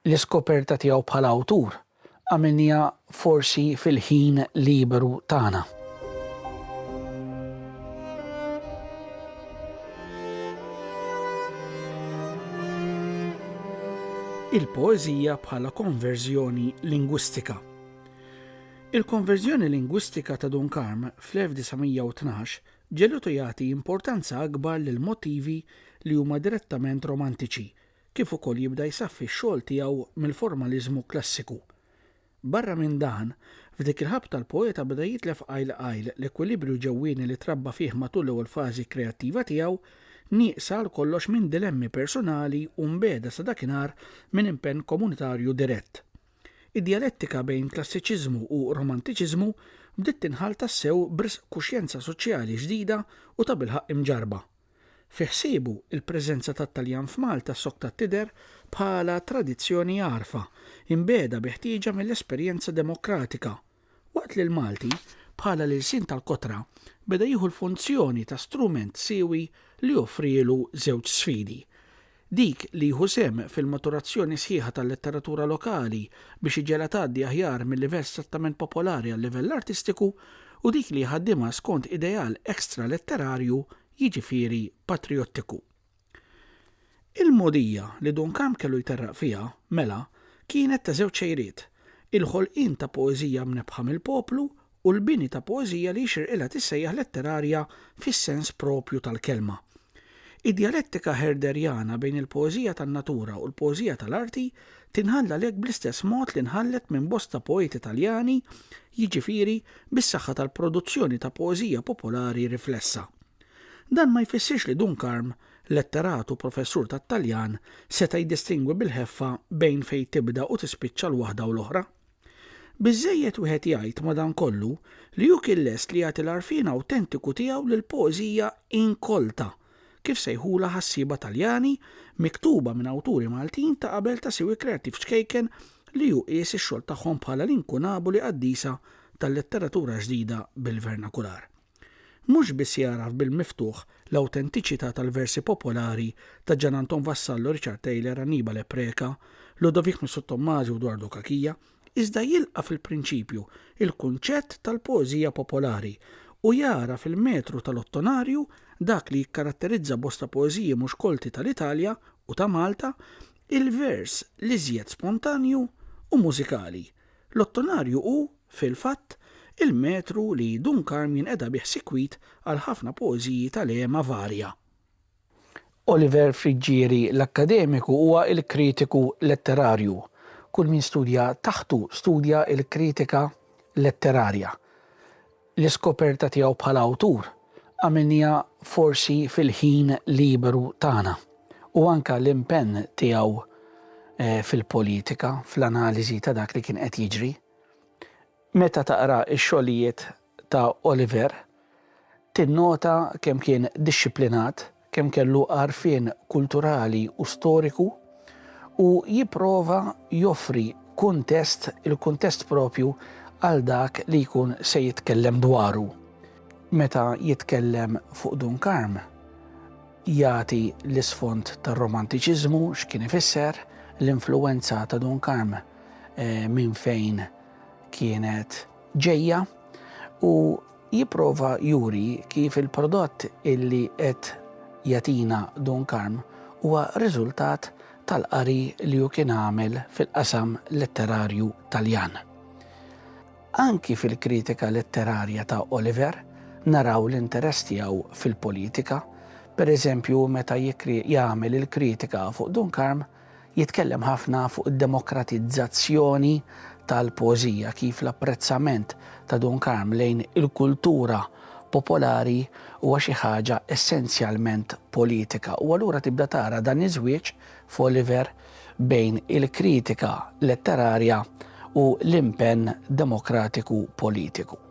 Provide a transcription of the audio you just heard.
L-iskoperta tiegħu bħala awtur għamilniha forsi fil-ħin liberu tagħna. Il-poeżija bħala konverżjoni lingwistika. Il-konverżjoni lingwistika ta' Dunkarm fl-1912 ġelutu jagħti importanza akbar lil motivi li huma direttament romantiċi kif ukoll jibda jsaffi x-xogħol tiegħu mill-formaliżmu klassiku. Barra minn dan, f'dik il-ħabta l-poeta beda jitlef qajl qajl l-ekwilibrju ġewwieni li trabba fih matul l-ewwel fażi kreattiva tiegħu, nieqsa għal kollox minn dilemmi persunali u mbiegħda sa dakinhar minn impenn komunitarju dirett. Id-djalettika bejn klassiċiżmu u romantiċiżmu bdiet tinħall tassew b'risq kuxjenza soċjali ġdida u tabilħaqq imġarrba. Fi ħsiebu, il-preżenza tat-Taljan f'Malta sokta tidher bħala tradizzjoni għarfa, imbiegħda bi ħtieġa mill-esperjenza demokratika, waqt li l-Malti, bħala l-ilsien tal-kotra, beda jieħu l-funzjoni ta' strument siewi li joffrielu żewġ sfidi, Dik li jieħu sehem fil-maturazzjoni sħiħa tal-letteratura lokali biex iġegħlha tgħaddi aħjar mil-livell strettament popolari għal-livell artistiku u dik li jħaddimha skont ideal extra-letterarju, jiġifieri patrijottiku. Il-mogħdija li Duncamp kellu jterraq fiha, mela, kienet ta' żewġ xejriet, il-ħolqien ta' poeżija mnebbħa mill-poplu u l-bini ta' poeżija li jixirqilha tissejjaħ letterarja fis-sens proprju tal-kelma. Id-djalettika Herderjana bejn il-poeżija tan-natura u l-poeżija tal-arti tinħall għalhekk bl-istess mod li nħallet minn bosta poeti Taljani, jiġifieri bis-saħħa tal-produzzjoni ta' poeżija popolari riflessa. Dan ma jfissirx li Dunkarm, letterat u professur tat-Taljan, seta' jiddistingwi bil-ħeffa bejn fejn tibda u tispiċċa l-waħda u l-oħra. Biżżejjed wieħed jgħid, madankollu, li hu kien lest li jagħti l-għarfien awtentiku tiegħu lill-poeżija inkolta, kif sejħulha ħassieba Taljani, miktuba minn awturi Maltin ta' qabel ta' siwi kreattiv ċkejken li hu qies ix-xogħol tagħhom bħala l-inkunaboli qaddisa tal-letteratura ġdida bil-vernakular. mhux biss jagħraf bil-miftuħ l-awtentiċità tal-versi popolari ta' Gian Anton Vassallo, Richard Taylor, Annibale Preca, Ludovic Missottommasi u Dwardo Cachia, iżda jilqa' fil-prinċipju l-kunċett tal-poeżija popolari u jara fil-metru tal-ottonarju dak li jikkaratterizza bosta poeżiji mhux kolti tal-Italja u ta' Malta, il-vers l-iżjed spontanju u mużikali. L-ottonarju hu, fil-fatt, il-metru li Dun Karm jinqeda bih sikwit għal ħafna poeżiji ta' lehma varja. Oliver Friggieri l-akkademiku huwa l-kritiku letterarju. Kull min studja taħtu studja l-kritika letterarja. L-iskoperta tiegħu bħala awtur għamilniha forsi fil-ħin liberu tagħna u anke l-impenn tiegħu fil-politika, fl-analiżi ta' dak li kien qed jiġri. Meta taqra x-xogħlijiet ta' Oliver, tinnota kemm kien dixxiplinat, kemm kellu għarfien kulturali u storiku u jipprova joffri kuntest, il-kuntest proprju għal dak li jkun se jitkellem dwaru. Meta jitkellem fuq Dun Karm, jagħti l-isfond tar-Romantiċiżmu, x'kien ifisser, l-influwenza ta' Dun Karm minn fejn kienet ġejja u Jipprova juri kif il-prodott illi qed jagħtina Dun Karm huwa riżultat tal-qari li hu kien għamel fil-qasam letterarju Taljan. Anki fil-kritika letterarja ta' Oliver naraw l-interess tiegħu fil-politika, pereżempju meta jagħmel il-kritika fuq Dun Karm, Jitkellem ħafna fuq id-demokratizzazzjoni tal-poeżija, kif l-apprezzament ta' Dun Karm lejn il-kultura popolari huwa xi ħaġa essenzjalment politika u allura tibda tara dan iż-żwieġ f'Oliver bejn il-kritika letterarja u l-impenn demokratiku politiku.